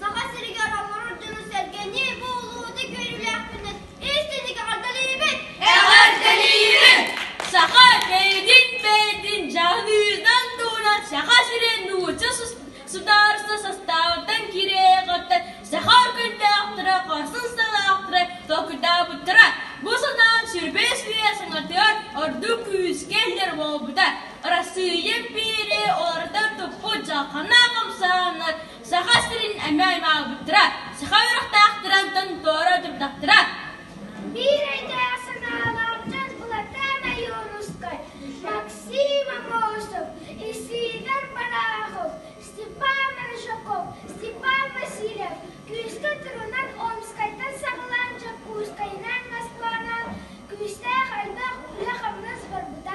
Саха сиригэр олорор дьону-сэргэни бу улууһу көрүүлээхпинэ истиҥник эҕэрдэлиибин! Эҕэрдэлиибин! Саха бэйэтин бэйэтин дьаһаныытынан туһунан Саха сирин нуучча судаарыстыба састаабыттан киирээри хаттан саха үргүннээхтэрэ хорсун санаалаахтары толкуйдаабыттара. Бу санаам сүрбэс үйэ саҥатыгар ордук күүскэ иһэр буолбута. Арассыыйа биири уларытар туппут дьалхана хамсааннар Саха сирин эмэ аймаабыттара, саха үөрэхтээхтэринтэн тооро турдахтара. Биир өйдөөх санаалаах дьон Булатаан Ойуунускай, Максим Амошев, Исигор Барахов, Степан Рыжаков, Степан Васильев күүскэ турунан Омскайтан саҕалаан Дьокуускайынан Москванан күүстээх элбэх үлэ-хамнас барбыта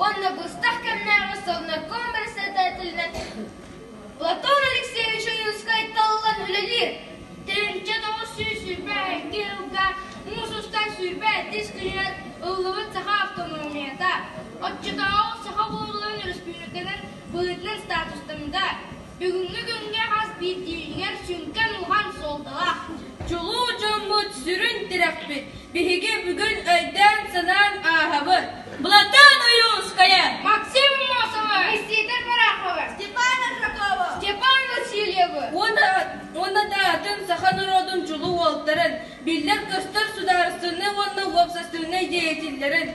уонна быстах кэмнээҕи совнарком председателинэн Платон Алексеевич Ойуунскай талылан үлэлиир. Тэрилтэ тоҕус сүүс сүүрбэ икки ыылга муус устар сүүрбэ иккис күнүнэн ыллыбыт саха автономията. Оччотооҕу саха буолан өрөспүүбүлүкэнэн быһыытынан статустарында Бүгүҥҥү күҥҥэ хас биирдиилигэр сүҥкэн-уһан суолталаах, чулуу дьоммут сүрүн тирэхпит. Биһиги бүгүн өйдөөн-санаан ааһабыт, Былатаан Ойуунускайа, Максим Мосовы, Никита Бараховы, Степан Аржакову, Степан Васильевы уонна да атын саха норуотун чулуу уолтарын, биллэр-көстөр судаарыстыбаннай уонна уопсастыбыннай деятеллэрин,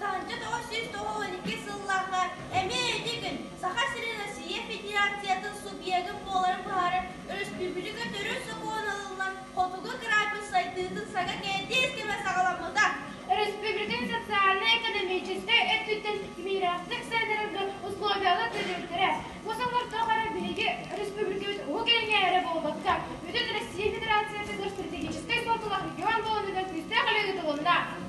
Таанча тоҕус сүүс тоҕус уон икки сыллааҕы эмиэ ити күн Саха сирин Россия Федерациятын субъегын буоларын быһаарар өрөспүүбүлүкэ төрүт сокуон ылыллан Хотугу кыраапыс сайдыытын сага кээтиис кэмэ саҕаламмыта. Өрөспүүбүлүкэни социально-экономическай өттүттэн мирэхтик сайыннарарга условиялар төлүүрдэрэ. Бу сыллар тухары биһиги өрөспүүбүлүкэбит уһук илиҥҥэ эрэ буолбакка, бүтүн Россия Федерациятыгар стратегическай суотулаах регион буоларыгар күүстээх үлэ ыытылынна.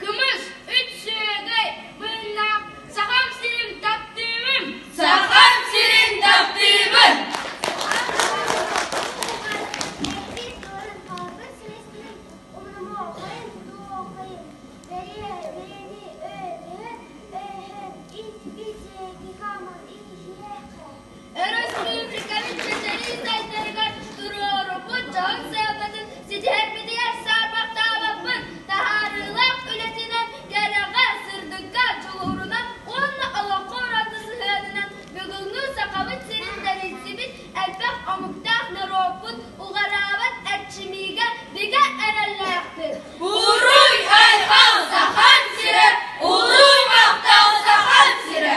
Кымыс, үчүгэй быыннаах Сахам сирин таптыыбын! Сахам сирин таптыыбын! Өрөспүүбүлүкэбит сэтэриитэллэригэр туруоруммут дьоһун сыалбытын ситиһэрбитигэр саарбахтаабаппын. Таһаарыылаах үлэтинэн, кэрэҕэ, сырдыкка дьулуурунан уонна олоххо ураты сыһыанынан бүгүҥҥү Сахабыт сирин тэрийсибит элбэх омуктаах норуоппут уҕараабат эрчимиигэ бигэ эрэллээхпин. Буруй-айхал Сахан сирэ! Улуу махтал Сахан сирэ!